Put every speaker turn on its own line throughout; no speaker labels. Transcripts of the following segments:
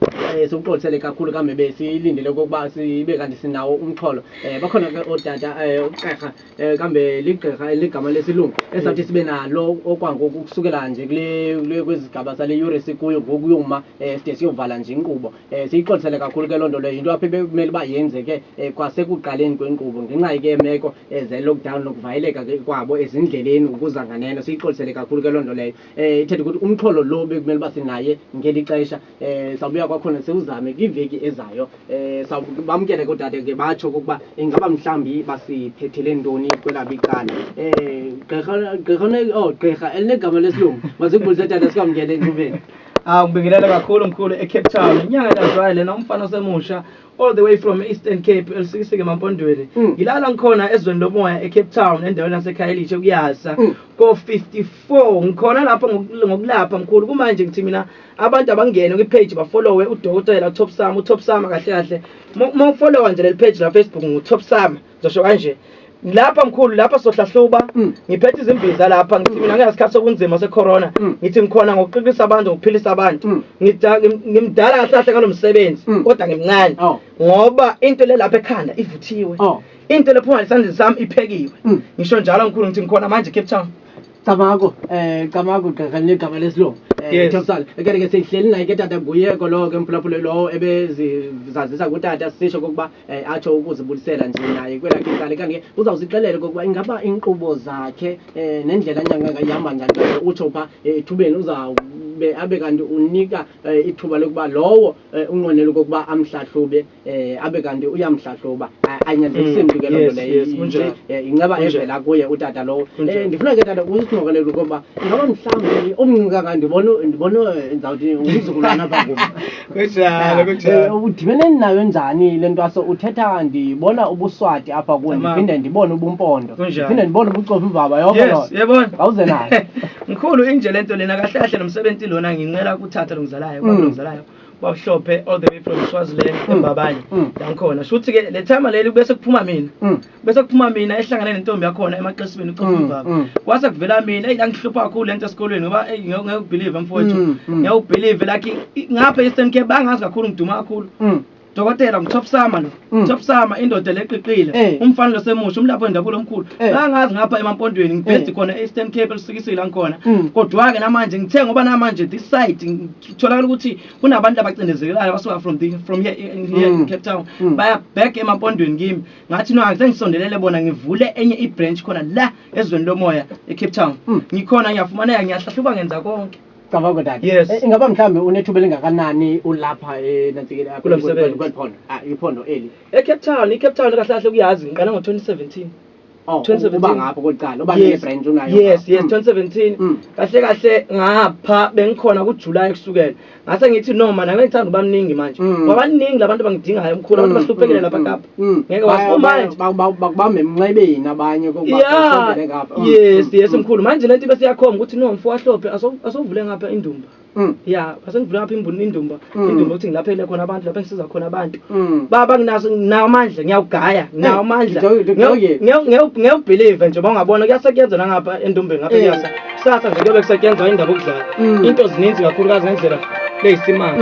Eh, sikuxolisele kakhulu kambe besilindele okokuba sibe kanti sinawo umxholo um bakhona ke ootata um ugqirha um kambe ligqirha eligama lesilungu esawuthi sibe nalo okwangoku ukusukela nje kwezigaba sale yure sikuyo ngoku yoma um side siyovala nje inkqubo um siyixolisele kakhulu ke loo nto leyo yinto apha bekumele uba yenzeke um kwasekuqaleni kwenkqubo ngenxa ke yemeko zale-lockdown nokuvayeleka ke kwabo ezindleleni ukuza nganeno siyixolisele kakhulu ke loo nto leyo eh ithethe ukuthi umxholo lo bekumele uba sinaye ngeli xesha eh sawubuya kwakhona sewuzame kwiveki ezayo eh bamkele kodade ke batsho kokuba ingaba mhlambi basiphethele ntoni kwelabo icala eh gqirha gqirha oh gqirha elinegama lesilungu mazikubulise tata sikwamkele encubeni Ah ngibingelela
kakhulu mkhulu eCape Town. Inyanga kaZwayo lena umfana osemusha all the way from Eastern Cape elisikisike emampondweni. Hmm. Ngilala ngikhona ezweni lomoya eCape Town endaweni yaseKhayelitshe kuyasa ko 54 4 ngikhona lapho ngokulapha mkhulu kumanje ngithi mina abantu abangene kwi page ba followe udokotela Top Sam u Top Sam kahle kahle uma ufollowa nje leli page la Facebook ngu Top Sam ngizosho kanje lapha mkhulu lapha sohlahluba mm. ngiphethe izimbiza lapha ngithi mina ngiyasikhathi sokunzima secorona mm. ngithi ngikhona ngokuqinisa abantu ngokuphilisa abantu mm. ngimdala kahle kahle ngalomsebenzi kodwa ngimncane oh. ngoba into le lapha ekhanda ivuthiwe oh. into lephuma isandleni sami iphekiwe ngisho njalo mkhulu ngithi ngikhona manje Cape Town Camagu,
eh Camagu gqirha linegama lesilungu. Eh Yes. Thompson, ke ke sihleli naye ke tata nguye kolo ke mphulaphuli lowo ebezizazisa kutata sisho kokuba eh, atsho ukuzibulisela nje naye kwelakhe icala kanti ke uzawusixelela kokuba ingaba inkqubo zakhe eh, nendlela nyanga ngayihamba njani kanti utsho pha eh, ethubeni uzawube abe kanti unika eh, ithuba lokuba lowo Eh, unqwenela okokuba amhlahlube eh, abe kanti uyamhlahluba ayinyanzelisi mm. mntu loo nto leyo eh, inceba evela kuye utata lowo ndifuna ke tata usixokelele ukuba ingaba mhlawumbi omncinci kangaka ndibona ndibona ndizawuthi umzukulwana apha kum
ah, udibene
nayo njani le ntwaso uthetha ndibona ubuswati apha kuwe ndiphinde ndibone ubumpondo ndiphinde ndibone ubucofa imvaba yoko loo awuze
nayo
mkhulu inje le
nto lena kahle kahle nomsebenzi lona ngincela uthatha lo ngizalayo mm. lo ngizalayo bawuhlophe all the way from swaziland mm. embabanye mm. la ngikhona sho ukuthi-ke le time leli bese kuphuma mina bese kuphuma mina ehlangane nentombi yakhona emaqesibeni ucofubaba kwase kuvela mina eyi langihlupha kakhulu le nto esikolweni ngoba ngeke ubhilive mfowethu ngeke ubhilive like ngapha e-eastern cape bangazi kakhulu ngiduma kakhulu Dokotela umtop sama lo. Mm. Top sama indoda leqiqile. Eh. Umfana lo semusha umlapho wendabulo omkhulu. Eh. Ngangazi ngapha emampondweni ngibhedi eh. khona e-Eastern Cape elisukisile ngikhona. Mm. Kodwa ke namanje ngithe ngoba namanje this side ngitholakala ukuthi kunabantu abacindezekelayo abasuka from the from here in, here in mm. Cape Town. Baya back emampondweni kimi. Ngathi no angise ngisondelele bona ngivule enye i-branch khona la ezweni lomoya e-Cape Town. Ngikhona ngiyafumaneka ngiyahlahluba ngenza konke. Cabanga dad. Yes.
Eh, ingaba mhlambe unethuba elingakanani ulapha eh nansikele Kulo msebenzi. kweliphondo. Ah iphondo eli. ecape town icape
town kahle kahle kuyazi ngiqala ngo-2017 Oh, 2017. uba
ngapho kokuqala, uba Yes. ne branch unayo. yes yes Mm. 2017 Mm.
kahle kahle ngapha bengikhona kujuly kusukela ngase ngithi no mana ngengithanda uba mningi manje Mm. ngoba baningi labantu abangidingayo mkhulu abantu Mm, bahluphekile mm, lapha mm. kapa Mm. ngeke wasimanje bakubambe
emnxebeni abanye kokubasondele ngapha
mm. yes mm. yes mkhulu manje lento bese yakhomba ukuthi no mfo wahlophe asovule ngapha indumba ya asengivule ngapha imbuni indumba indumba ukuthi ngilaphele khona abantu lapha ngisiza khona abantu baba nginaso nginawo amandla ngiyawugaya nginawo amandla ngiyawubhilive nje bawungabona kuyasetyenzwa nangapha endumbeni ngapha kuyasa kusasa nje kuyobe kusetyenzwa indaba okudlala into zininzi kakhulukazi ngendlela leyisimanga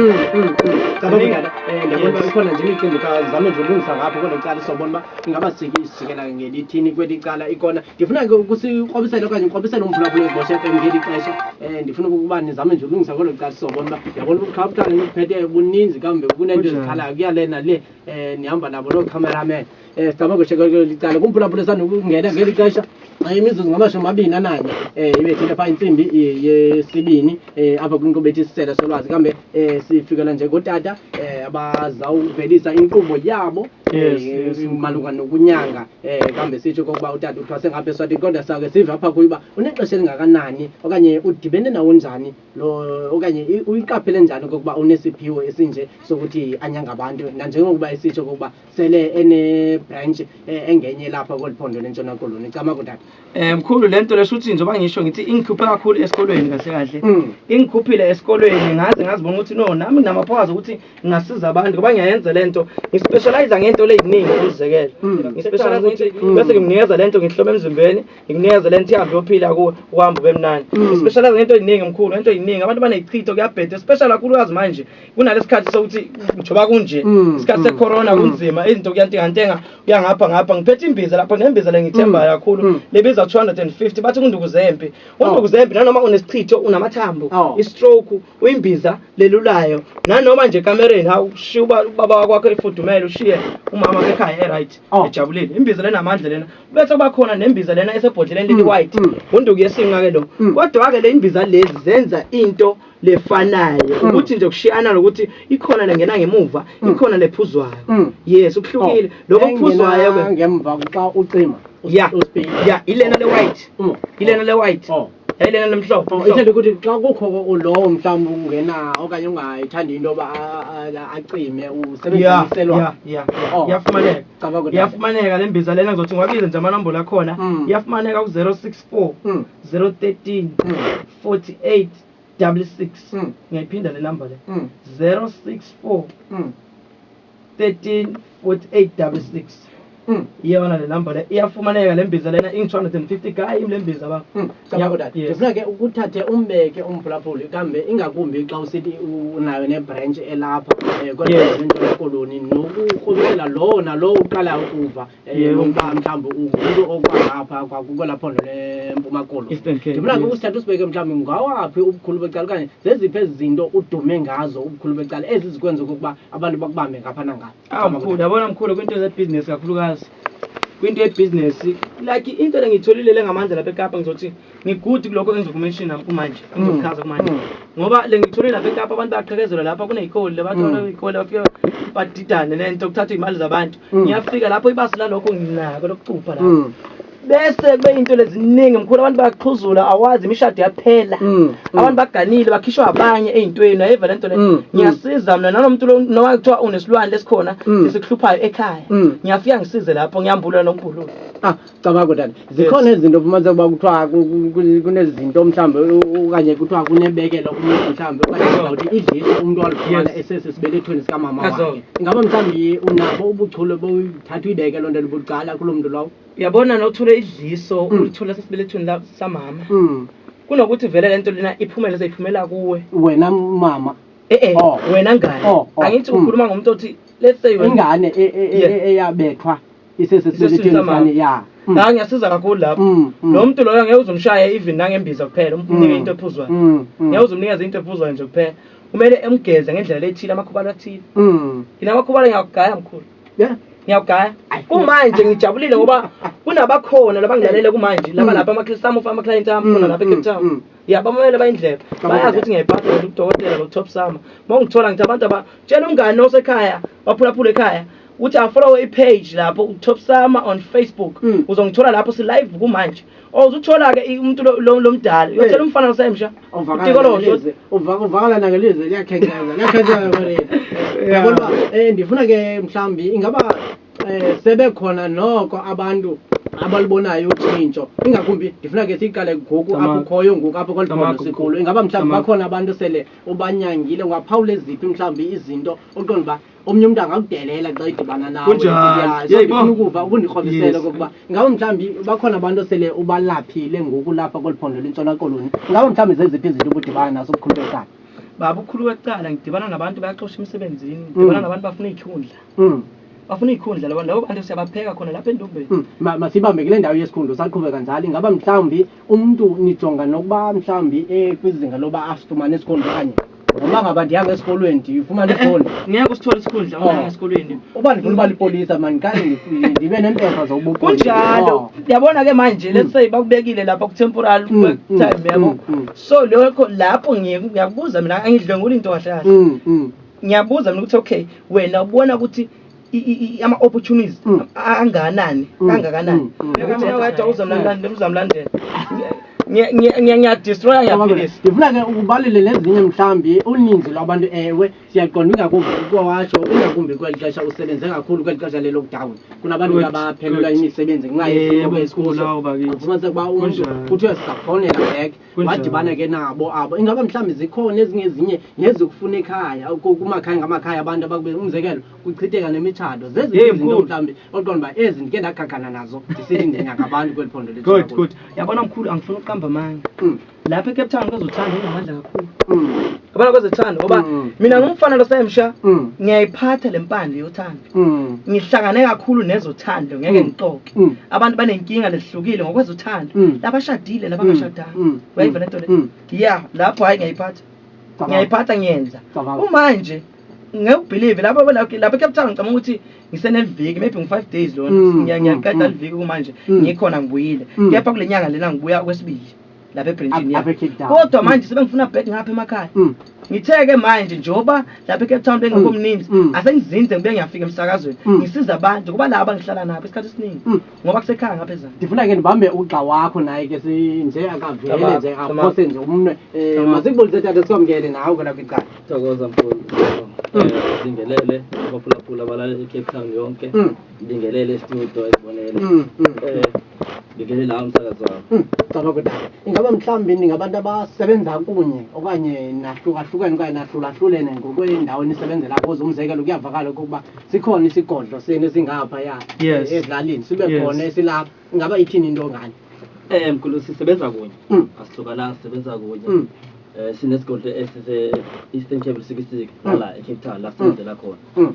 Eh,
ndiyabona uba ikhona nje imicimbi khazame nje ulungisa ngapho kwelo cala sobona uba ingaba sike isijikela ngelithini kweli cala ikona ndifuna ke ukusikrobisele okanye ukrobisele umphulaphula ezibosha fm ngeli xesha um ndifuna ukuba nizame nje ulungisa kwelo cala sobona uba ndiyabona ubuqhabuqhane nibuphethe buninzi kambe kunento ezikhalayo kuyale nale um nihamba nabo loo cameraman um sizama kweshekelelo licala kumphulaphula esanokungena ngeli xesha eh, imizuzu ngamashumi amabini ananye um eh, ibethile phaa intsimbi yesibini um apha kwinkqubo ethi isisela solwazi kambe um sifikela nje kotata um abazawuvelisa inkqubo yabo malunga nokunyanga um kambe sitsho kokuba utata uthwase ngapha eswatini kodwa sake sive apha kuyo uba unexesha elingakanani okanye udibene nawo njani lo okanye uyiqaphele njani kokuba unesiphiwo esinje sokuthi anyanga abantu nanjengokuba esitsho kokuba sele ene branch eh, engenye lapha koliphondo lentshona koloni camagu tata Eh mkhulu lento
lesho uthi njengoba ngisho ngithi ingikhuphe kakhulu esikolweni kahle kahle. Mm. Ingikhuphile esikolweni ngaze ngazibona ukuthi no nami nginamaphawazi ukuthi ngingasiza abantu ngoba ngiyayenza lento. Ngispecialize ngento leziningi ukuzekela. Mm. Ngispecialize ukuthi Mm. bese ngimnikeza lento ngihlome emzimbeni, ngimnikeze lento ihambe yophila kuwe uhamba ube mnandi. Mm. Ngispecialize ngento eziningi mkhulu, ngento eziningi abantu banezichitho kuyabheda especially kakhulukazi manje. kunalesikhathi sokuthi njoba kunje mm, isikhathi mm, secorona mm. kunzima izinto kuyantengantenga uyangapha ngapha ngiphethe imbiza lapho nembiza lengithembayo kakhulu lebiza 250 bathi kunduku zempi oh. unduku zempi nanoma unesichitho unamathambo oh. istroke uyimbiza lelulayo nanoma nje kamereni hawu shiya ubaba wakwakho efudumele ushiye umama ekhaya eright oh. ejabulile imbiza lena amandla lena bese kuba khona nembiza lena esebhodleleni leli white unduku yesinqa ke lo kodwa ke le imbiza lezi zenza into lefanayo mm. ukuthi nje kushiyana lokuthi ikhona lengena ngemuva mm. ikhona lephuzwayo mm. yes ukuhlukile oh. lokho kuphuzwayo ke ngemva xa ucima
ya
ya ilena le white ilena le white oh. yayilena lemhlophe oh, ithanda ukuthi xa kukho
lowo mhlawumbi ungena okanye ungayithandi into yoba acime usebenziselwa
iyafumaneka oh, iyafumaneka le mbiza lena ngizothi ngiwabize nje amanombolo akhona hmm. iyafumaneka ku-zero six four hmm. zero thirteen hmm. forty eight double six ngiyayiphinda le number le zero six four thirteen forty eight double six iyona le number le iyafumaneka le mbiza lena ingu-two hundred and fifty ka yimi le mbiza ba ngifuna ke
ukuthathe umbeke umphulaphuli kambe ingakumbi xa usithi unayo nebranch elapha um kodwa entshona koloni nokukrumela lowo nalowo uqala ukuva Yebo mfana mhlawumbe umuntu okwangapha kwakwela phondo leMpuma Koloni. Eastern Cape, Ngibona yes. usithatha usibeke mhlawumbe ngawaphi ubukhulu becala okanye zeziphi ezinto udume ngazo ubukhulu becala ezizikwenza okokuba abantu bakubambe ngapha nangapha. Ah mkhulu, yabona mkhulu kwinto
zebhizinesi kakhulukazi. Kwinto yebhizinesi, like into le ngiyitholile le ngamandla lapha eKapa ngizothi ngigudi kulokho engizokumenshina kumanje mm. engizokuchaza kumanje mm. ngoba le ngithole lapha ekapa abantu bayaqhekezelwa lapha kuney'kole labathola mm. iy'kole bafike badidane le nto kuthathwa iy'mali zabantu ngiyafika lapho ibasi lalokho nginako lokucupha lapho bese kube into leziningi mkhulu abantu bayaxhuzula awazi imishado yaphela abantu baganile bakhishwa abanye ey'ntweni ayiva le nto le ngiyasiza mna nalo muntu noma kuthiwa unesilwane lesikhona esikuhluphayo ekhaya ngiyafika ngisize lapho ngiyambulula nombhululo ah. cabanga kodwa
zikhona izinto fumanise uba kuthiwa kunezinto mhlawumbi okanye kuthiwa kunebekelo kumuntu mhlawumbi okanye uzawuthi idlise umntu walufumana esesi sibelethweni sikamama wakhe ingaba mhlawumbi unabo ubuchule bothatha uyibeke loo nto libucala kuloo mntu lowo uyabona nokuthule
idliso hmm. ulithule sesibelethweni samama hmm. kunokuthi vele le nto lena iphumele seyiphumela kuwe wena mama
e-e oh. wena
ngane oh, oh. angithi hmm. ukhuluma ngomuntu othi let's say ingane e, e, e,
eyabethwa isese sibelethweni sane ya mm. la ngiyasiza kakhulu
lapho mm, mm. lo muntu loyo ngeke uzumshaye even nangembiza kuphela umnike into ephuzwayo ngeke uzumnikeza into ephuzwayo nje kuphela kumele emgeze ngendlela lethile amakhubalo athile yina amakhubalo ngiyakugaya mkhulu yeah ngiyawugaya kumanje ngijabulile ngoba kunabakhona labangilalele kumanje laba lapha amakilisi ami ufa amaklayenti ami khona lapha ecape town ya bamamele bayindlebe bayazi ukuthi ngiyayiphatha udokotela lo-top sama uma ungithola ngithi abantu aba tshela umngane osekhaya waphulaphula ekhaya uthi afollowe ipage lapho utop sama on facebook mm. uzongithola lapho silive kumanje or uzuthola-ke umuntu lo mdala uyothola eh. umfana losemsha utikolosho uvakala
nakelizwe liyakhenkeza liyakhenkeza yabona um ndifuna ke mhlawumbi ingaba um sebekhona noko abantu abalibonayo utshintsho ingakumbi ndifuna ke siyiqale ngoku apho ukhoyo ngoku apho kwaliphondo sikulo ingaba mhlawumbi bakhona abantu sele ubanyangile ungaphawula eziphi mhlawumbi izinto oqonda uba omnye umntu angakudelela xa idibana nawe ndifuna ukuva ukundikrobisela okokuba ngaba mhlawumbi bakhona abantu osele ubalaphile ngoku lapha kweli phondo lentshona koloni ngaba mhlawumbi zeziphi izinto ubudibana naso obukhulu becala baba ukhulu
wecala ngidibana nabantu bayaxosha emsebenzini mm. ngidibana nabantu bafuna iyikhundla mm. bafuna iyikhundla labo labo bantu siyabapheka khona lapha entombeni mm. masibambe kule
ndawo yesikhundla usaqhubeka njalo ingaba mhlawumbi Umuntu nijonga nokuba mhlawumbi ekwizinga loba asifumane isikhundla okanye noma ngaba ndihamba esikolweni ndifumane isikhundla. Ngeke usithole isikhundla
Oh. ungahamba esikolweni. Uba ndifuna uba lipolisa
mani ndiqale ndi- ndibe neempepha zobupolisa. Kunjalo. Oh. Yabona
ke manje let's say bakubekile lapha ku temporal Mm, work mm, time yabo. mm, mm. So lokho lapho ngiye ngiyakubuza mina angidlwenguli into kahle kahle. Mm, mm. Ngiyabuza mina ukuthi okay wena ubona ukuthi ama opportunities mm. anganani mm. kangakanani ukuthi mm. wedwa uzomlandela uzomlandela ngiyadestroya ngiyaphilisa ngifuna ke ubalile
lezinye mhlambi uninzi lwabantu ewe siyaqonda ingakumbi kwawasho ingakumbi kweli xesha usebenze kakhulu kweli xesha le-lockdown kunabantu abaphelelwa imisebenzi ngenxa yesimo esikuso ufumanise ukuba umntu kuthiwe sizakufonela back wadibana ke nabo abo ingaba mhlawumbi zikhona ezingezinye nezokufuna ekhaya kumakhaya ngamakhaya abantu abakube umzekelo kuchitheka nemitshato zezizinto mhlawumbi oqonda uba ezi ndike ndagagana nazo ndisithi ndinyaka abantu kweli phondo good good yabona mkhulu
angifuni ukuqamba amanga mm. lapha ecape town kwezothando ingamandla kakhulu mm. yabona kwezothando ngoba mm. mina ngumfana losayemsha ngiyayiphatha le mpande yothando Mm. ngihlangane kakhulu nezothando ngeke mm. ngixoke mm. abantu banenkinga lehlukile ngokwezothando labashadile nabangashadanga uyayiva lento le ya lapho hhayi ngiyayiphatha ngiyayiphatha ngiyenza umanje ngekubhilive lapho lapho cape town ngicabanga ukuthi ngiseneviki maybe ngu-five days lona ngiyaqeda liviki kumanje ngikhona ngibuyile kepha kule nyanga lena ngibuya okwesibili lapha ebrentini yami kodwa manje sebengifuna bed ngapha emakhaya mm. ngithe-ke manje njengoba lapha ecape town bengekho mm. mninzi mm. asengizinze ngibe ngiyafika emsakazweni ngisiza abantu kuba laba ngihlala nabo isikhathi esiningi ngoba kusekhaya ngapha ezana ndifuna ke ndibambe ugxa
wakho naye ke nje akavele nje aphose nje umnwe eh, mazikubulise tata sikwamkele nawe kona kwicala thokoza mfuni
eh, ndingelele abaphulaphula balale ecape town yonke ndingelele estudio esibonele eh, ngingene nawo umsakazo wami hmm, caba kuda
ingaba mhlawumbi ningabantu abasebenza kunye okanye nahlukahlukene okanye nahlulahlulene ngokweendawo nisebenzela kuzo umzekelo kuyavakala ukuba sikhona isigodlo senu esingapha ya ezilalini sibe khona esilapha ingaba ithini into ngani um mkhulu
sisebenza kunye hmm. asihlukananga sisebenza kunye um sinesigodlo esise-eastern table sikisiki nala ecape town la sisebenzela khona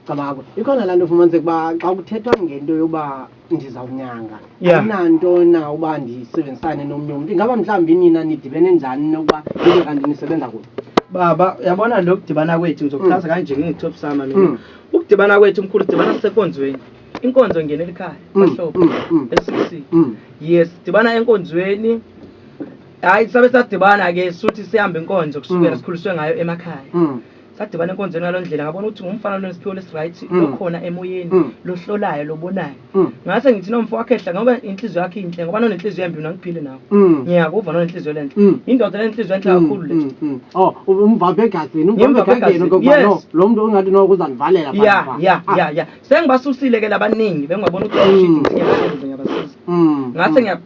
cabako
ikhona laa nto ufumanise ukuba xa kuthethwa ngento yokuba ndizawunyanga Yeah. ayinanto na uba ndisebenzisane nomnye umntu ingaba mhlawumbi nina nidibene njani nokuba nibe kanti nisebenza kunye baba uyabona
lo kudibana kwethu ngizokuchaza kanje ngingitop sama mina Mm. ukudibana kwethu mkhulu sidibana sisenkonzweni inkonzo ngenela ikhaya Mm, bahlobo mm, mm. esisi Mm. yes sidibana enkonzweni hayi sabe sadibana ke suthi sihambe inkonzo kusukela Mm. sikhuliswe ngayo emakhaya Mm. Sadibana enkonzweni ngalo ndlela ngabona ukuthi ngumfana lonesiphiwo lesi right mm. lokhona emoyeni mm. lohlolayo lobonayo mm. ngase ngithi nomfo wakhehla ngoba inhliziyo yakhe inhle ngoba nonenhliziyo embi nangiphile nawo mm. ngiyakuva nonenhliziyo lenhle mm. indoda lenhliziyo enhle mm, kakhulu le mm, mm. oh umvambe
egazini umvambe egazini ngoba no lo muntu ungathi no kuzanivalela pha ya ya ah. ya ya
sengibasusile ke labaningi bengibona ukuthi mm. shit ngiyabasenza ngiyabasiza mm. ngase ngiya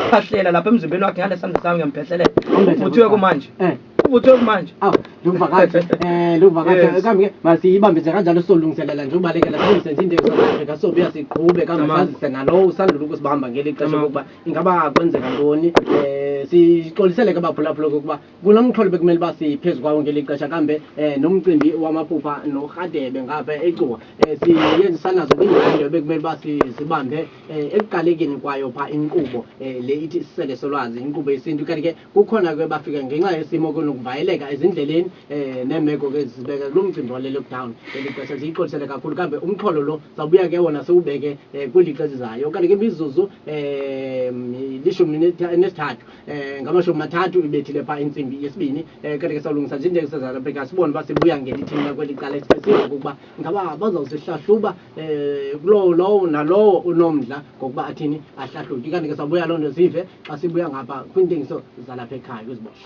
phahlela lapha emzimbeni wakhe ngalesandla sami ngiyamphehlelela uthiwe kumanje eh. Ubuthi manje. Aw, luvakathi. Eh, luvakathi.
Yes. Kambe ke masiyibambe nje kanjalo solungiselela nje ubalekela silungise nje into eSouth Africa so buya siqhube kambe Tamam. sazise nalowo usandula ukusibamba ngeli xesha Tamam. lokuba ingaba kwenzeka ntoni. Eh, sixolisele ke baphulaphula ukuba kulo mxholo bekumele uba siphezu kwawo ngeli xesha kambe eh nomcimbi wamaphupha noRhadebe ngapha eCuwa. Eh, siyenzisanazo kwindawo bekumele uba si- sibambe eh, ekuqalekeni kwayo pha inkqubo eh, le ithi isisele solwazi inkqubo yesintu kanti ke Kukhona ke bafika ngenxa yesimo kunokuvayeleka ezindleleni eh nemeko ke zibeka kulo mcimbi wale lockdown elixesha ziyixolisele kakhulu kambe umxholo lo sawubuya ke wona siwubeke eh, kwilixa ezizayo kanti ke imizuzu eh lishumi nesithathu eh ngamashumi mathathu ibethile pha intsimbi yesibini eh kanti ke sawulungisa nje njengesazana Africa sibone uba sibuya ngelithini kweli cala esibhekile ukuba Ngaba bazawusihlahluba um kulowo lowo nalowo unomdla ngokuba athini ahlahlutye kanti ke sabuya loo nto sive xa sibuya ngapha kwiintengiso zalapha ekhaya kwizibosho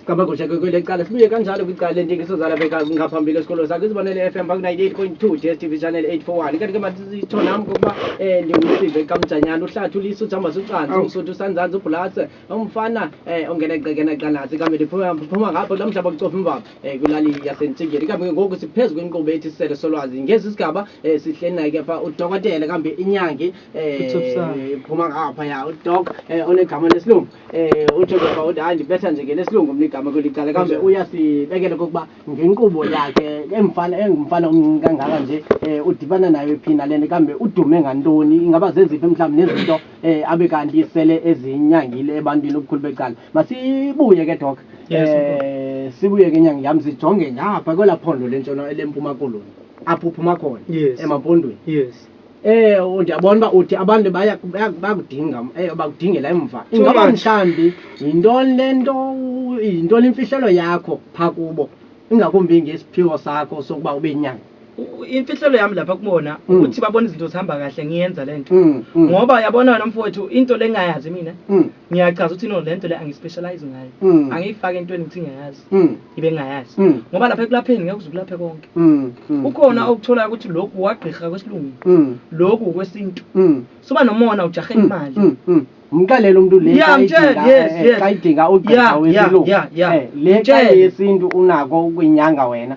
Kabakusha kwele cala sibuye kanjalo kwicala lentengiso zalabeka ngaphambili esikolweni sakhe izibonele FM baku 98.2 DSTV channel 841 kanti ke masithonam ngokuba eh ndingumsive kamjanyana uhlathi uliso jamba sucansi usuthu sanzansi ubhulase Umfana eh ongena egcekena qandazi kambe liphuma phuma ngapho lo mhlaba kucofa imvaba eh kulali yasentsingeni kambe ke ngoku siphezu kwenqubo ethi sisele solwazi ngezi sigaba eh sihleli naye kepha udokotela kambe inyangi eh Uthobisani. phuma ngapha ya udok eh onegama lesilungu eh uthe kepha uthi hayi ndibetha nje ke lesilungu mna igama kweli cala kambe Kunjani? uyasibekela kokuba ngenqubo yakhe emfana engumfana omncinci kangaka nje eh udibana nayo iphina lento kambe udume ngantoni ingaba zeziphi mhlawumbi nezinto eh abe kanti sele ezinyangile ebantwini ubukhulu becala masibuye ke doc Yes, eh sibuye ke nyanga yami sijonge ngapha kwela phondo lentshona lempuma koloni apho uphuma khona Yes. emampondweni yes eh u- ndiyabona uba uthi abantu baya- baya- bakudinga eh, bakudingela emva Too ingaba much. mhlawumbi yintoni le nto u- yintoni imfihlelo yakho phaa kubo ingakumbi ngesiphiwo sakho sokuba ube yinyanga u- u-
imfihlelo yami lapha kubona Mm. ukuthi babona izinto zihamba kahle ngiyenza le nto Mm, mm, ngoba uyabona wena mfowethu into le ngingayazi mina mm, ngiyachaza ukuthi no le nto le angispecialize ngayo Mm. angiyifaki entweni ukuthi ngiyayazi mm, ibe ngingayazi mm, ngoba lapha ekulapheni ngeke uze ukulaphe konke mm, mm, kukhona okutholayo ukuthi lokhu wagqirha kwesilungu mm, lokhu kwesintu mm, suba nomona ujahe mm, imali mm, mm. mxelele
umuntu le Yeah, xa mtshele, idinga- yes, eh, yes. xa idinga ugqirha Yeah, yeah, wesilungu yeah, yeah. Eh, le xa Mtshele. yesintu unako ukwinyanga wena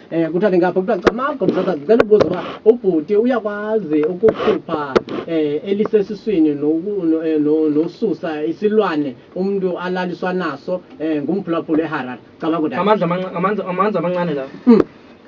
Eh kuthiwa ke ngapha kuthiwa cha mama Gomzakazi ngicela ubuza uba ubhuti uyakwazi ukukhupha eh elisesiswini noku- no- eh, no- nosusa isilwane umuntu alaliswa naso eh ngumphulaphula eHarare cabanga ukuthi amandla amanca- amandla amandla
amancane lawo Mm,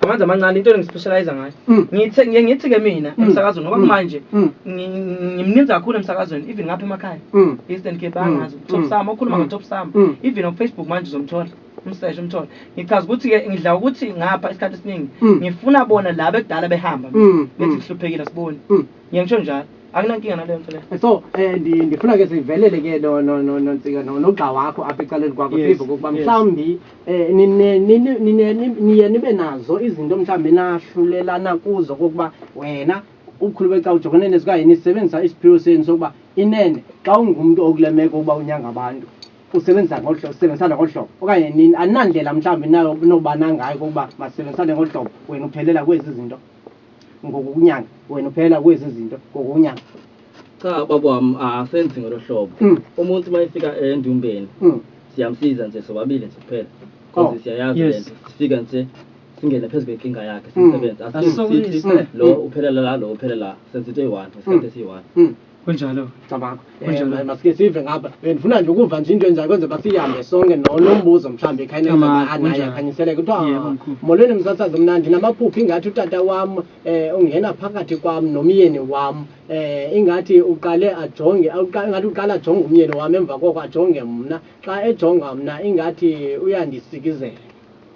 amandla amancane into engispecialize ngayo mm, ngithe ngiye ngithi ke mina Mm. emsakazweni ngoba Mm. manje mm, ngi- ngi- ngimninzi kakhulu emsakazweni even ngapha emakhaya mm. Eastern Cape Mm. angazi Mm. top sama okhuluma Mm. ngo top sama Mm. even on Facebook manje uzomthola umseshe umthole ngichaza ukuthi ke ngidla ukuthi ngapha isikhathi esiningi Mm. ngifuna bona laba ekudala behamba Mm, ngithi mm. sihluphekile siboni Mm. ngiye ngisho njalo akunankinga naleyo nto leyo so eh, ndi- ndifuna
ke sivelele ke no- no- no- nontsika no- nogxa wakho apha ecaleni kwakho Yes, sive kokuba yes. mhlawumbi um nine- nine- nine- ni- niye nibe nazo izinto mhlawumbi nahlulelana kuzo kokuba wena ukhulu beca ujongene nezikanye nisebenzisa isiphiwo senu sokuba inene xa ungumntu okule meko uba unyanga abantu Usebenzisa ngolu hlobo, sisebenzisana ngolu hlobo, okanye nini, aninandlela mhlawumbi enobana ngayo okokuba masisebenzisane ngolu hlobo, wena uphelela kwezi zinto ngokokunyanga, wena uphelela kwezi zinto ngokokunyanga. Cha
baba wam asenzi ngolo hlobo, umuntu uma efika endumbeni siyamsiza nje sobabili nje kuphela coz siyayazi le nto, sifika nje singene phezu kwenkinga yakhe simsebenze, asicingi sithi lo uphelela la, lo uphelela la, senza into eyi-one ngesikhathi esiyi-one. Kunjalo.
Cabanga. Kunjalo.
Eh, masike sive ngapha. Bendifuna nje ukuva nje into enjalo kwenze basihambe sonke no nombuzo mhlambi khanye Cabanga, anaye kunjalo. akhanyiseleke kuthiwa Yebo, mkhulu. molweni msasazi mnandi namaphuphi ingathi utata wam eh ungena phakathi kwam nomyeni wam eh ingathi uqale ajonge uqa- ingathi uqala ajonge umyeni wam emva koko ajonge mna xa ejonga mna ingathi uyandisikizela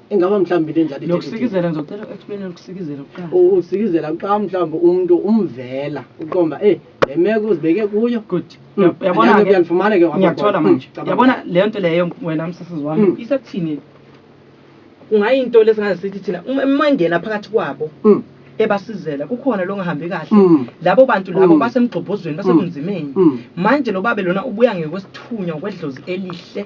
Ingaba mhlawumbi into enjalo Nokusikizela ngizocela u-explain
ukusikizela kuqala. Ukusikizela
kuqala mhlawumbi umuntu umvela uqomba eh le meko uzibeke kuyo. Good. Hmm. Yabona
ke uyalifumana ke ngiyakuthola hmm,
manje. Yabona
le nto leyo wena msisizi wami hmm. isekuthini. Kungayinto lesingaze sithi thina uma engena phakathi kwabo. ebasizela kukhona longahambi kahle mm. labo bantu labo mm. basemgxobhozweni basekunzimeni mm. manje lo babe lona ubuya ngekwesithunywa kwedlozi elihle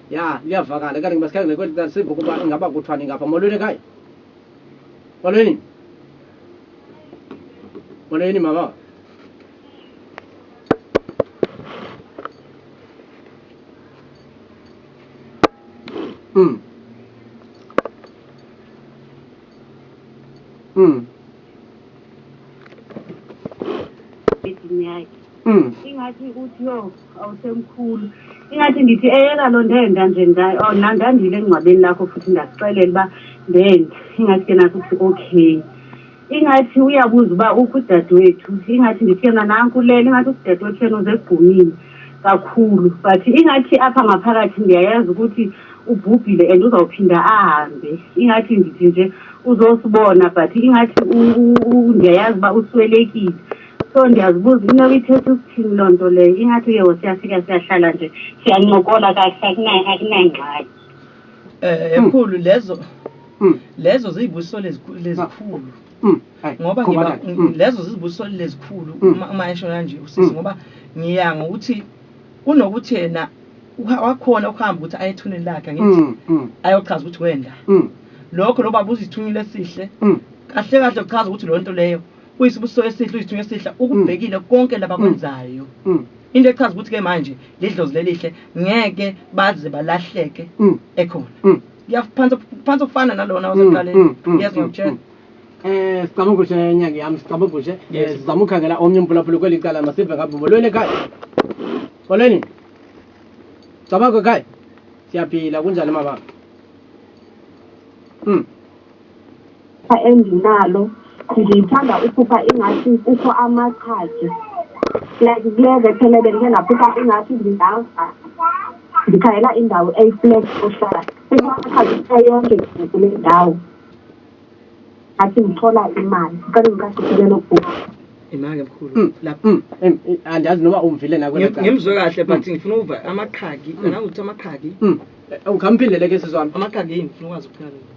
Ya liyavakala kanti ngibasikhathi ngekweli kanti simba ukuba ingaba kuthwani ngapha molweni ekhaya. Molweni. Molweni mama.
Mm. Mm. edini yakhe Mm. ingathi ukuthi yo awusemkhulu ingathi ngithi eyeka lo ndenda nje nda- oh, na- ndandile engcwabeni lakho futhi ndakuxelela uba ndenda ingathi ke nathi uthi okay ingathi uyabuza uba ukho udadewethu ingathi ndithi yena nanku lele ingathi udadewethu yena uzegqumile kakhulu but ingathi apha ngaphakathi ndiyayazi ukuthi ubhubhile and uzawuphinda ahambe ingathi ndithi nje uzosibona but ingathi ndiyayazi uba uswelekile so ndiyazibuza into ithetha ukuthini loo nto leyo ingathi uye wosiyafika siyahlala nje siyancokola kahle akunangxaki um
ekhulu lezo hmm. lezo ziyibusiso lezikhulu Mm. ngoba ngiba mm. lezo zizibuso lezikhulu mm. uma eshona nje usisi ngoba ngiya ngokuthi Kunokuthi yena wakhona ukuhamba ukuthi aye ethuneni lakhe angithi mm, mm. ayochaza ukuthi wenda mm. lokho lo baba uzithunyile esihle mm. kahle kahle uchaza ukuthi lo nto leyo uyisibusiso esihle uyisithunywa esihle mm. ukubhekile mm. konke labakwenzayo mm. mm. into echaza ukuthi ke manje lidlozi lelihle ngeke baze balahleke mm. ekhona mm. ngiyaphansi phansi ukufana nalona waseqaleni mm. mm. mm. yes ngiyakutshela mm. Eh sicabanga
ukuthi nyanga yami sicabanga ukuthi eh, Yes. sizama ukukhangela omnye umpulaphula kweli cala masive ngapha bolweni ekhaya. Bolweni. Cabanga ekhaya. Siyaphila kunjani mama? Mm.
endinalo ngithanda uphupha ingathi kukho amaqhaji like kule vekele bendike ndaphupha ingathi ndingava ndikhayela indawo eyiflex ohlala kumaqhaji yonke kule ndawo athi ngithola imali ngicela ngiqashe uhlelo lokubhukha imake mkhulu
mm, lapho mm, mm, andazi noma
ungivile na kwena ngimzwe kahle
but ngifuna uva amaqhagi angazi ukuthi amaqhagi eh, ungamphindele
ke sizwami amaqhagi yini ngifuna ukwazi
ukuphila lokho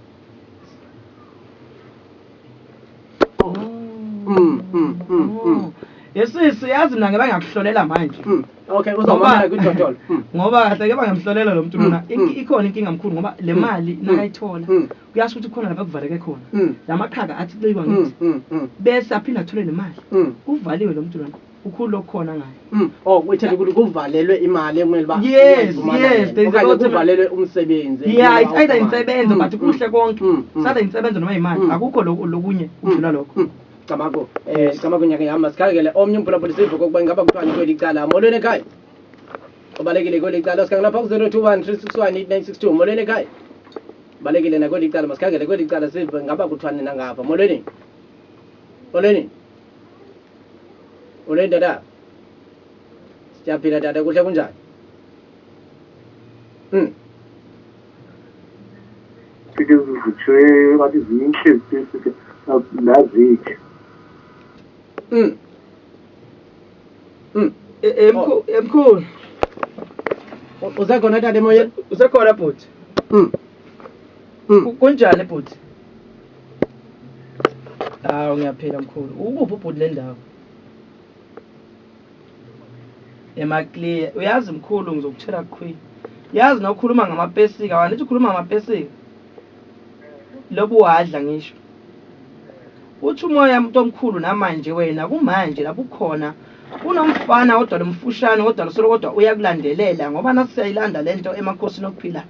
oh. yesisi yazi mina ngeke ngakuhlolela manje okay uzobona
kudodolo ngoba kahle ke
bangamhlolela lo muntu mina ikhona inkinga mkhulu ngoba le mali nakayithola kuyasho ukuthi khona lapha kuvaleke khona mm. lamaqhaga athi kuciwa mm, ngithi mm, mm. bese aphinde athole nemali mm. kuvaliwe lo mntu lona ukhulu lokukhona ngayo mm. oh wethe ukuthi
kuvalelwe imali ekumele ba yes yes
there's a lot kuvalelwe
umsebenzi yeah it's either insebenzo
mm, but mm. kuhle konke mm, mm. sada insebenzo noma imali mm. akukho lokunye ukudlula lokho mm. Camako eh
Camako nyaka yami masikhalekele omnye umbulabulisivo kokuba ingaba kuthiwa ngikweli cala molweni ekhaya ubalekile kweli cala sikhangela pha ku-021 361 8962 molweni ekhaya balekile nakweli cala masikhangele kweli cala sive ngaba kuthwani nangapha molweni molweni molweni tata siyaphila tata kuhle kunjani um
fike zivutshwe ngathi zinhle zifike nazithe um
Mm. E- e- mkhu- e- Mkhulu.
U- Usekhona tata emoyeni? Usekhona bhuti.
Mm. Mm. Ku- Kunjani bhuti? Hawu ngiyaphila mkhulu. Ukuphi ubhuti le ndawo? Emaclear. Uyazi mkhulu ngizokutshela qhwi. Yazi nokhuluma ngamapesika, wanithi ukhuluma ngamapesika? lobuwadla ngisho uthi umoya umuntu omkhulu namanje wena kumanje la bukhona kunomfana kodwa lomfushane kodwa losolo kodwa uyakulandelela ngoba nasiyayilanda lento emakhosini okuphila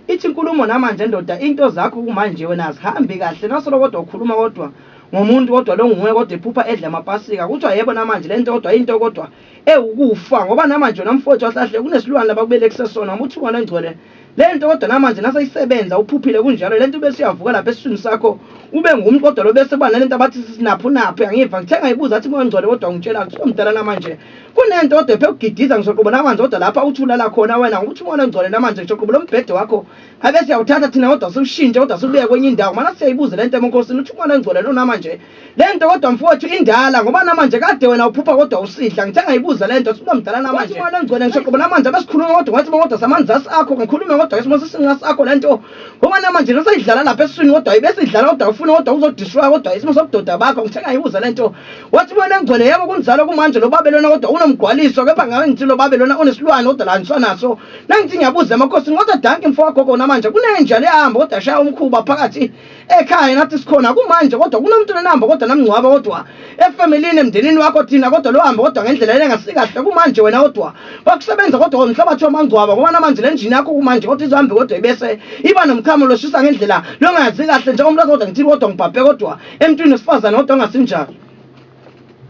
ithi inkulumo namanje ndoda into zakho kumanje wena azihambi kahle nasolo kodwa ukhuluma kodwa ngomuntu kodwa lo nguwe kodwa ephupha edla amapasika kuthiwa yebo namanje le nto kodwa into kodwa ewukufa ngoba namanje wena mfowethu wahlahle kunesilwane labakubelekise sona uma uthi ungane ngcwele lento kodwa namanje naseyisebenza uphuphile kunjalo lento bese uyavuka lapha esiswini sakho ube ngumi kodwa lo bese bana lento abathi sinaphu naphu yangiva ngithe ngayibuza athi mongcwele kodwa ungitshela ukuthi umdala namanje kunento kodwa ephe ugidiza ngisoqobo namanje kodwa lapha uthulala khona wena ngoba uthi umona ngcwele namanje ngisoqobo lombhede wakho abe siyawuthatha thina kodwa siwushintshe kodwa sibuye kwenye indawo mana siyayibuza lento emukhosini uthi umona ngcwele lo namanje Lento kodwa mfowethu indala ngoba namanje kade wena uphupha kodwa usidla ngithe ngayibuza lento siba mdala namanje imali engcwele ngisho qobo namanje abesikhuluma kodwa ngathi kodwa samanzasi akho ngikhulume kodwa ngesimo sesinqa sakho lento ngoba namanje nasayidlala lapha esiswini kodwa ibesidlala kodwa ufuna kodwa uzodiswa kodwa isimo sobudoda bakho ngithe ngayibuza lento wathi imali engcwele yebo kunjalo kumanje lo babe lona kodwa unomgwaliso kepha ngabe ngithi lo babe lona unesilwane kodwa la ngisanaso nangithi ngiyabuza emakhosi kodwa danki mfowakho kona manje kunenja lehamba kodwa shaya umkhuba phakathi ekhaya nathi sikhona kumanje kodwa kunomuntu nenamba kodwa namngcwaba kodwa efamilini emndenini wakho thina kodwa lo hamba kodwa ngendlela yena ngasikahle kumanje wena kodwa bakusebenza kodwa umhlabathi wamangcwaba ngoba namanje le njini yakho kumanje kodwa izohambe kodwa ibese iba nomkhamo loshisa ngendlela longazi kahle njengoba umlazi kodwa ngithi kodwa ngibhabhe kodwa emntwini wesifazane kodwa ongasinjalo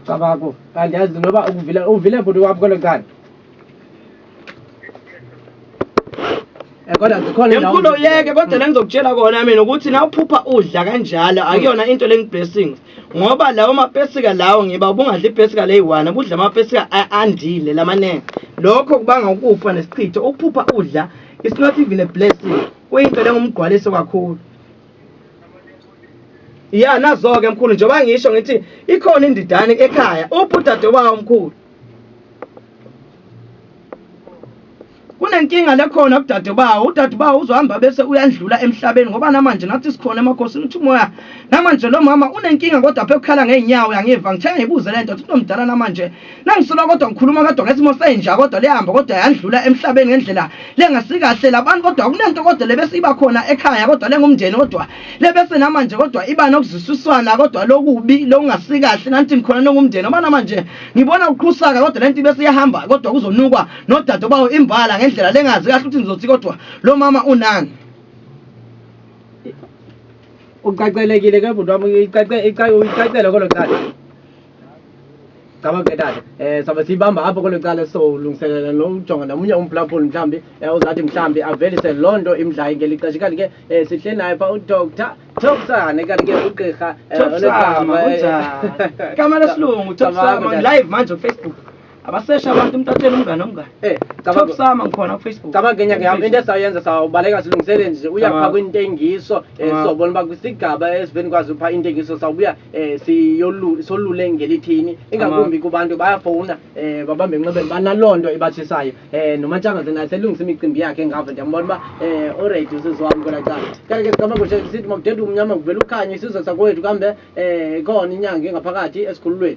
cabako kanti yazi noba uvile uvile bhuti wami kwelo nkani Eh, kodwa zikhona indawo Emkhulu uyeke kodwa
la ngizokutshela kona mina ukuthi na uphupha udla kanjalo akuyona into lengiblessings ngoba lawo mapesika lawo ngiba ubungadli ipesika leyi-one ubudla amapesika a- andile lamanengi lokho kubanga ukufa nesichitho ukuphupha udla it's not even a blessing kuyinto lengumgqwaliso kakhulu ya nazo-ke mkhulu njengoba ngisho ngithi ikhona indidane ekhaya uphi udade wawo mkhulu kunenkinga lekhona kudadebawo udadebawo uzohamba bese uyandlula emhlabeni ngoba namanje nathi sikhona emakhosini ukuthi umoya namanje lo mama unenkinga kodwa phe ukukhala ngeenyawo yangiva ngithe ngibuze le nto ukuthi unomdala namanje nangisola kodwa ngikhuluma kodwa ngesimo senja kodwa liyahamba kodwa yandlula emhlabeni ngendlela lengasikahle labantu kodwa kunento kodwa le besiyiba khona ekhaya kodwa lengumndeni kodwa lebese namanje kodwa iba nokuzwisiswana kodwa lokubi lokungasikahle nanti ngikhona nongumndeni ngoba namanje ngibona kuqhusaka kodwa lento bese iyahamba kodwa kuzonukwa nodade obawo imbala ngendlela lengazi kahle ukuthi ngizothi kodwa lo mama unani
ucacelekile ke bhuti wami icacele kodwa cala Cabanga ke tata eh sabe siyibamba apho kwelo cala sizolungiselela nokujonga nomunye umphulaphuli mhlawumbi eh, uzathi mhlawumbi avelise loo nto imdlayo ngeli xesha kanti ke eh, sihle naye pha udr topsane kanti ke ugqirha eh, Topsama, onegama, eh, kunjani?
Igama lesilungu, Topsama, Cabanga, tata. live manje on Facebook. abasesha abantu umuntu atshela umngane omngane Eh, top cabanga sama ngikhona kufacebook cabanga
enye ke into esayenza sawubaleka silungisele nje uyapha Cabanga. kwintengiso eh, Cabanga. sobona uba kwisigaba esiveni kwazi upha intengiso sawubuya eh, siyolu- solule ngelithini ingakumbi kubantu bayafowuna eh, babambe enxebeni banaloo nto ibatshisayo eh, nomatshangase naye selungisa imicimbi yakhe engavo ndiyambona uba eh, oredi usizwam kwela cala kale ke sigameko sithi makudede umnyama nguvela ukhanye isizwe sakwethu kambe eh, ikhona inyanga engaphakathi esikhululweni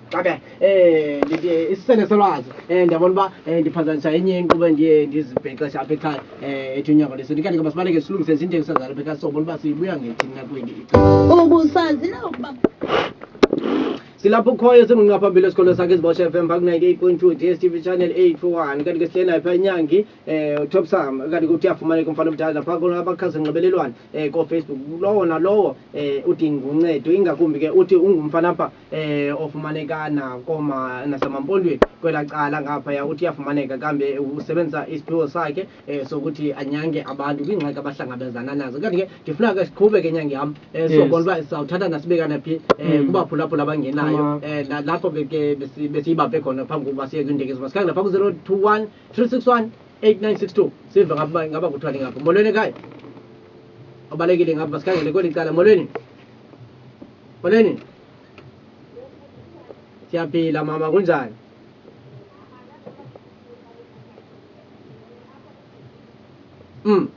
Okay. Eh ngithi eh, isisele solwazi. Eh ndiyabona uba eh, ndiphazanyiswa enye inkqubo endiye ndizibhexesha apha ekhaya eh ethi unyaka lesintu. Kanti ke masibaleke silungise nje into engisazana apha ekhaya sobona uba siyibuya ngethini na kweli icala.
Ubusazi
na ukuba Silapho ukhoyo singqinqa phambili esikholo sakhe izibosha FM pha ku-98.2 DSTV channel 841 kanti ke sihleli naye pha inyangi um utop sam kanti ke uthi afumaneka umfana omdala napha abakhasi nxibelelwane um kofacebook lowo nalowo um udinga uncedo ingakumbi ke uthi ungumfana apha eh ofumaneka nakoma nasemampondweni kwela cala ngaphaya uthi yafumaneka kambe usebenzisa isiphiwo sakhe eh sokuthi anyange abantu kwingxaki abahlangabezana nazo kanti ke ndifuna ke siqhube ke nyange yam eh sobona uba sawuthatha nasibekana phi eh mm. kubaphulaphula abangenayo eh lapho ke ke besiyibambe khona phambi kokuba siye kwindekezo masikhange lapha ku-021 361 8962 sive ngaba ngaba kuthwale ngapho molweni ekhaya obalekile ngapha sikhangele kweli cala molweni Molweni. Siyaphila mama kunjani? Mm.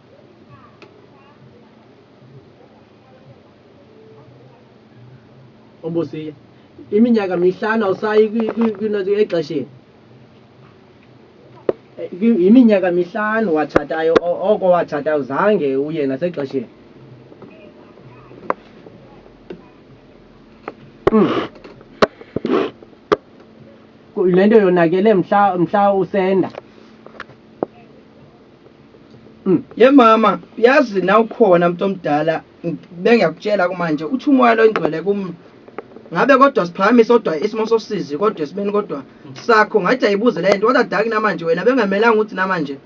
Obusiya. Iminyaka mihlanu awusayi kwi- kwi- kwi- exesheni. yiminyaka mihlanu watshatayo oko watshatayo zange uye nasexesheni hmm. le nto yonakele mhla mhla usenda
hmm. ye mama yazi na ukhona mntu omdala bengiyakutshela kumanje uthi umoya loyingcwele kum ngabe kodwa siphakamise kodwa isimo sosizi kodwa esibeni kodwa sakho ngathi ayibuze le nto kodwa daki namanje wena bengamelanga ukuthi namanje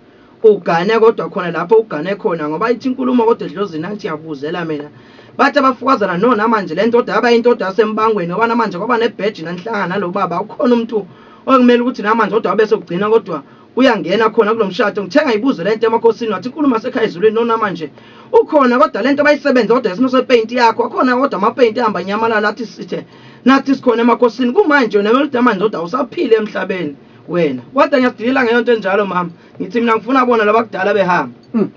ugane kodwa khona lapho ugane khona ngoba ithi inkulumo kodwa edlozini athi yabuzela mina bathi abafukazana no namanje le ndoda yaba indoda yasembangweni ngoba namanje kwaba nebheji nanhlanga nalo baba ukhona umuntu okumele ukuthi namanje kodwa wabe sokugcina kodwa uyangena khona kulomshado ngithenga ibuzo lento emakhosini wathi inkulu masekhaya izulwini nona manje ukhona kodwa lento bayisebenza kodwa isimo sepaint yakho akhona kodwa ama paint ahamba nyamalala athi sithe nathi sikhona emakhosini kumanje wena welida manje kodwa usaphile emhlabeni wena kodwa ngiyasidilela ngeyonto enjalo mama ngithi mina ngifuna bona labakudala behamba hmm.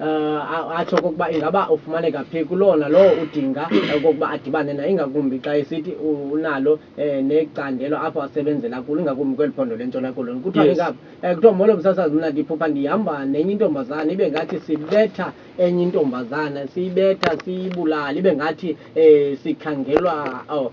uh, atsho okokuba ingaba ufumaneka phi kulona lowo udinga okokuba adibane naye ingakumbi xa esithi unalo um necandelo apho asebenzela kulo ingakumbi kweli phondo lentshona koloni kuthiwa yes. ingaba um kuthiwa molo msasazi mna ndiphupha ndihamba nenye intombazana ibe ngathi sibetha enye intombazana siyibetha siyibulala ibe ngathi um sikhangelwa oh,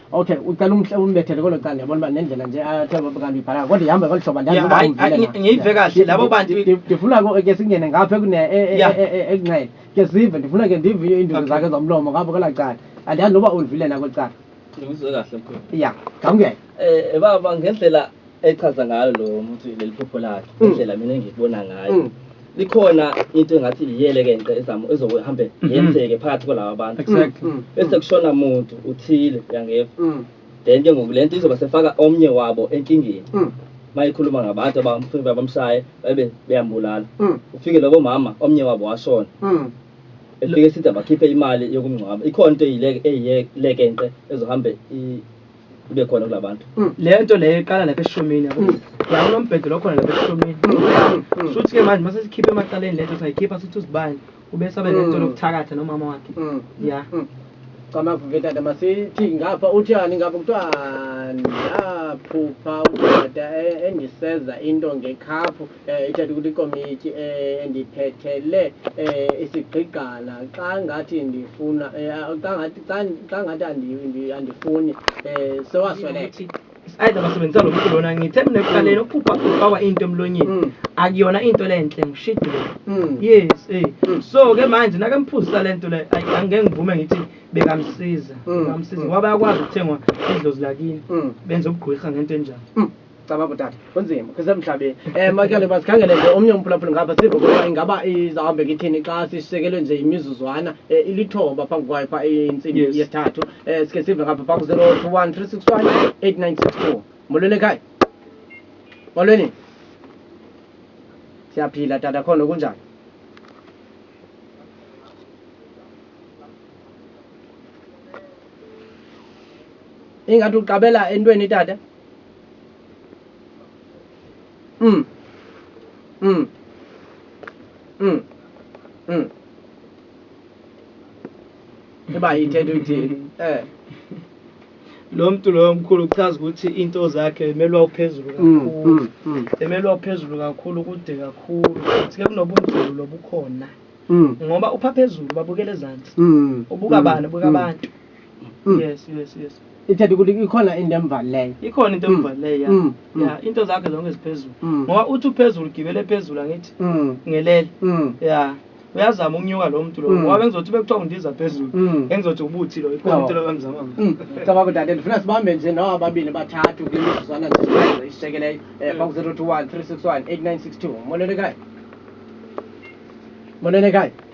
Ok ucela umhle umbethele kolo cala yabona uba nendlela nje athe ah, kanti uyibhalanga kodwa ihamba ngolu hlobo andazi uba ungivile na. Ngiyive
kahle labo bantu ndifuna ke
singene ngapha ekune e, e, e, ekunxele ke sive ndifuna ke ndive iinduku zakhe zomlomo ngapha kwelaa cala andazi noba ulivile na kweli cala. Ngizwe kahle mkhulu.
Ya ngamukele.
Eh baba
ngendlela echaza ngayo lo muthi leli phupho lakhe mm. indlela mina engikubona ngayo mm. likhona into engathi iyelekenqe ezamo ezokuhambe mm-hmm. yenzeke phakathi kwalaba abantu mm. bese kushona muntu uthile uyangefa then ke ngoku le nto izoba sefaka omnye wabo enkingeni mayikhuluma ngabantu abamfika bamshaye babe beyambulala ufike lobo mama omnye wabo washona elike sithi abakhiphe imali yokumngcwaba ikhona into eyilekenqe ezohambe kube khona kula bantu mm. le nto leyo iqala
lapha eshumini yabo mm. la kunombhedo lokhona lapha eshumini mm. shuthi ke manje mase sikhiphe emaqaleni lento sayikhipha sithi uzibani ube sabe nento lokuthakatha nomama wakhe ya camavu
vetata masithi ngapha uthiyani ngapha kuthiwa ndaphupha udada e, engiseza into ngekhaphu eh ithatha ukuthi ikomiti eh, endiphethele eh, isigqigqana xa ngathi ndifuna eh, xa ngathi xa ngathi andifuni eh, sewasweleka either
basebenzisa lo mculo lona ngithe mina ekuqaleni ukuphupha ufakwa into emlonyeni mm. akuyona into lenhle ngishidile mm. yes eh mm. so ke manje nake mphuzisa lento le angeke ngivume ngithi bekamsiza ngamsiza ngoba yakwazi ukuthengwa idlozi lakini benza ubugqwirha ngento enjalo Cabanga utata.
Kunzima. Kusemhlabeni. Eh makele basikhangele nje omnye umphulaphuli ngapha sive ukuba ingaba izawuhambe kithini xa sishiyekelwe nje imizuzwana eh, ilithoba phambi kwayo pha intsimbi Yes. yesithathu. Eh sike sive ngapha phambi 0213618962. Molweni ekhaya. Molweni. Siyaphila tata khona kunjani? Ingathi uqabela entweni tata? Mm. Mm. Mm. Mm. Eba yithethe uthini? Eh.
Lo mntu loyo mkhulu uchaza ukuthi into zakhe emelwa uphezulu mm, kakhulu. Mm, mm. Emelwa uphezulu kakhulu kude kakhulu. Sike kunobunzulu lobukhona. Mm. Ngoba upha phezulu babukele ezantsi. Mm. Ubuka bani, ubuka mm. abantu. Mm. Mm. yes yes yes ithetha
ukuthi ikhona into emvalileyo ikhona into emvalileyo
ya Mm, mm. ya into zakhe zonke ziphezulu Mm. ngoba uthi uphezulu gibele phezulu angithi Mm, ngelele mm, ya uyazama ukunyuka lo muntu lo Mm. ngoba bengizothi bekuthiwa undiza phezulu Mm. engizothi ubuthi lo ikhona Oh. into lobamzama mm. cabanga ukuthi ade
ndifuna sibambe nje nawo ababili bathathu kule mizuzwana nje isishekeleyo um baku zero two one three six one eight nine six two monenekayo monenekayo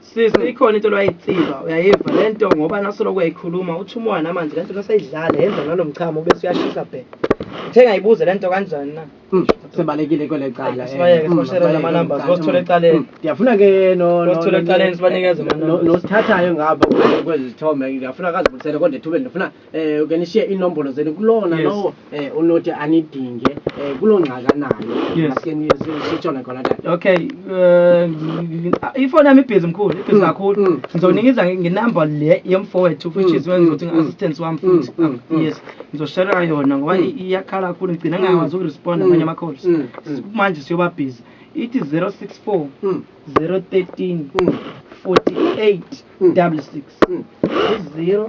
Sisi hmm. ikhona into lwayitsiba uyayiva le nto ngoba nasoloko uyayikhuluma uthi umwana manje le nto nasayidlala yenza ngalo mchamo bese uyashisa bhe uthe ngayibuze le nto kanjani na hmm, sibalekile kwele
cala eh. sibayeke sibashere hmm,
ama-numbers bosithola ecaleni ndiyafuna ke
bosithola ecaleni
sibanikeze nosithathayo
ngapha kwezi zithombe ngiyafuna kazibulisele kodwa ethubeni ndifuna eh ukanishiya inombolo zenu kulona Yes. lowo eh unothi anidinge eh kulo ngxaka nayo Yes. asike nisitshone khona tata
okay eh, ifoni yami ibhizi mkhulu ibhizi Mm, kakhulu mm, ngizonikiza nge- ngenamba le yemfowethu which Mm, is wenza mm, ukuthi mm. ngi-assistance wami Mm, futhi mm, mm. yes ngizoshera yona ngoba Mm. i- iyakhala kakhulu ngigcina ngingakwazi ukuresponda Mm, amanye ama-calls mm, mm. manje siyoba busy ithi 064 Mm, 013 mm, 48 mm. 66 Mm. 0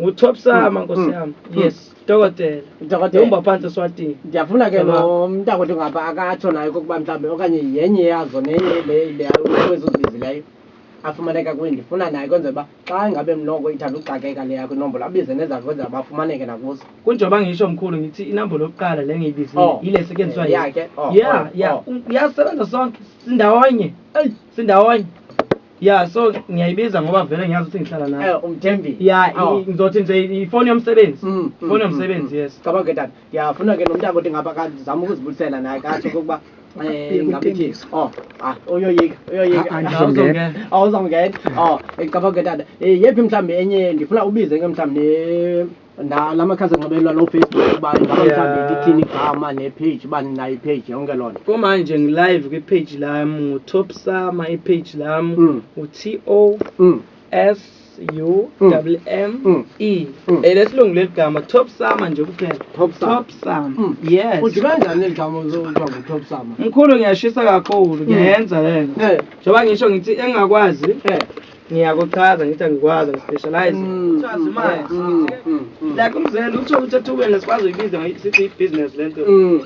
Ngu-Top Sama nkosi mm. yami. Mm. Yes, dokotela. Dokotela. Uhamba phansi eSwatini. Ndiyafuna ke lo
mntakwethu ngaba akatsho nayo kokuba mhlawumbi okanye yenye yazo nenye le le kwezo zibizileyo afumaneka kuye ndifuna naye kwenzela uba xa ingabe mloko ithanda uxakeka le yakho inombolo abize nezakhe kwenzela uba afumaneke nakuzo kunjengoba ngisho mkhulu
ngithi inombolo yokuqala le ngiyibizile oh. yile esetyenziswa yakhe
oh, ya oh,
ya uyasebenza sonke sindawonye eyi sindawonye ya so ngiyayibiza ngoba vele ngiyazi ukuthi ngihlala nayo Eh, umthembi ya
Awu. i- ngizothi nje
ifoni yomsebenzi Mm, mm, ifoni mm, yomsebenzi mm. yes cabanga ngetata
yafuna ke nomntaka othi ngapha kazama ukuzibuyisela naye kasho kokuba um Yeka ngabe ithini uTembisa. o ah, uyoyika Ah, ah, uyoyika ngizongena. awuzongena o cabanga ngetata um yephi mhlawumbi enye ndifuna ubize ke mhlawumbi ne la la makhasi onxibelelwano ofacebook uba ingaba Yeah. mhlawumbi lithini igama nepage uba ninayo ipage yonke loo nto kumanje ngilive
kwipage lam ngutop sama ipage lam Mm. uti Mm, s u Mm. double m Mm. e Mm. elesilungu leli gama top sama nje kuphela Top Sama. top sama mm. yes uthi kanjani eli gama
uzokuthiwa ngutop sama mkhulu ngiyashisa
kakhulu ngiyayenza lena Eh, njengoba ngisho ngithi engakwazi eh. ngiyakuchaza ngithi angikwazi ngispecialize mm, uchaza mm, imali mm, like umzela utho ukuthi athukele sikwazi uyibiza sithi i-business le nto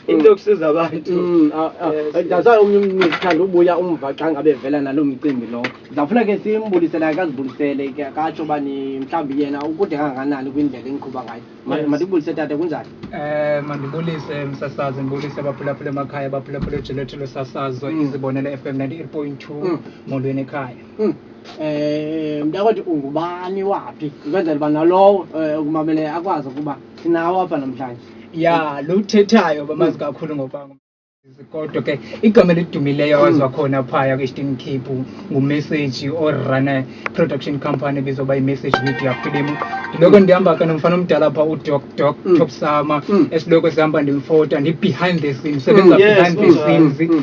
into yokusiza abantu ah, ah. eh, that's why
omunye umntu sithanda ubuya umva xa ngabe vela nalo mcimbi lowo ndizawufuna ke simbulisele akazibulisele ke akatsho uba ni mhlawumbi yena ukude kangakanani kwindlela endiqhuba ngayo mandibulise tata kunjani um mandibulise
msasazi ndibulise abaphulaphula emakhaya abaphulaphula ejeletho losasazo izibonele f m ninety eight point two molweni ekhaya Hmm. Eh
mntakwethu ungubani waphi ukwenzela uba nalowo eh, ukumameleyo akwazi ukuba sinawo apha namhlanje ya lo
uthethayo bamazi kakhulu ngokuba ngumsizi. kodwa ke igama elidumileyo awaziwa khona phaya kwi-eastern cape ngumessage orana production company ebizwa uba imessage media film ndiloko ndihamba ke nomfana omdala pha udoc doc Mm. top sama Mm. esiloko sihamba ndimfota ndi-behind the scene sebenza Mm, yes, behind the mm, scenes mm.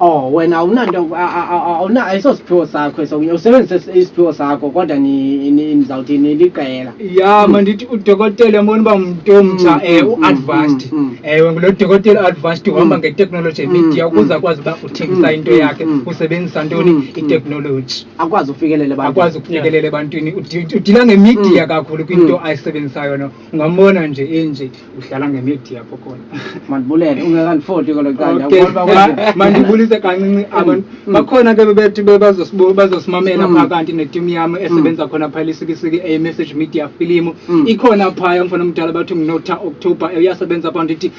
Oh wena
awunanto awuna ayisosiphiwo sakho esokunye usebenzise isiphiwo sakho kodwa nizawuthi niliqela ya mm. mandithi
udokotela yabona uba mntu omtsha um mm, eh, mm, u-advanced ewe eh, ngulo dokotela u-advanced uhamba ngeteknoloji emedia ukuze akwazi uba uthengisa into yakhe usebenzisa ntoni iteknoloji akwazi ukufikelela
akwazi ukufikelela
ebantwini udila ngemidia kakhulu kwinto ayisebenzisayo no Ngambona nje enje udlala nge media pho khona. Mandibulele
ungekanifoti kolo canda Okay. ubona Ma- ukuthi Mandibulise
kancinci abantu Mm. bakhona ke bebethi be- bazosibu- bazosimamela Mm. pha kanti netimu yami esebenza khona phaya lisikisiki a message media filimu Mm. ikhona phaya mfana omdala bathi nginotha october uyasebenza pha ndithi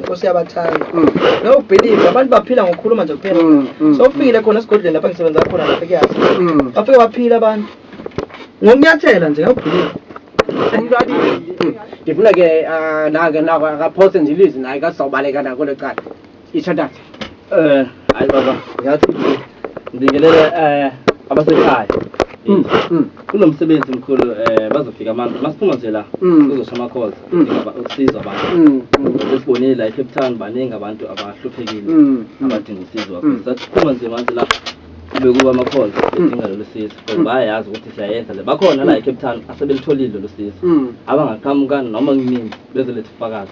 Nkosi yabathanda. Mm. No believe abantu baphila ngokukhuluma nje kuphela. Mm, mm, so ufikile khona esigodlweni lapha ngisebenza khona lapha kuyazi. Bafike baphila abantu. Ngokunyathela nje ngiyabhulile. Umuntu athi
ngifuna ke ah, nake nako akaphose nje ilizwi naye kasizawubaleka nako lecala. Ishathatha. Eh hayi
baba ngiyathi Ngibingelele eh abasekhaya. Mm, mm. Kunomsebenzi mkhulu eh bazofika abantu masiphuma nje la Mm. kuzosha ama calls Mm. ngaba ukusizwa abantu. Mm, mm, Sesibonile la eCape Town baningi abantu abahluphekile mm, mm. abadinga usizo wakho. Mm. Saphuma nje manje la kube kuba ama calls edinga lolu sizo. Because Mm. bayayazi ukuthi siyayenza le. Bakhona la eCape Town asebelitholile lolu sizo. Mm. Abangaqhamuka noma kunini bezoletha ufakazi.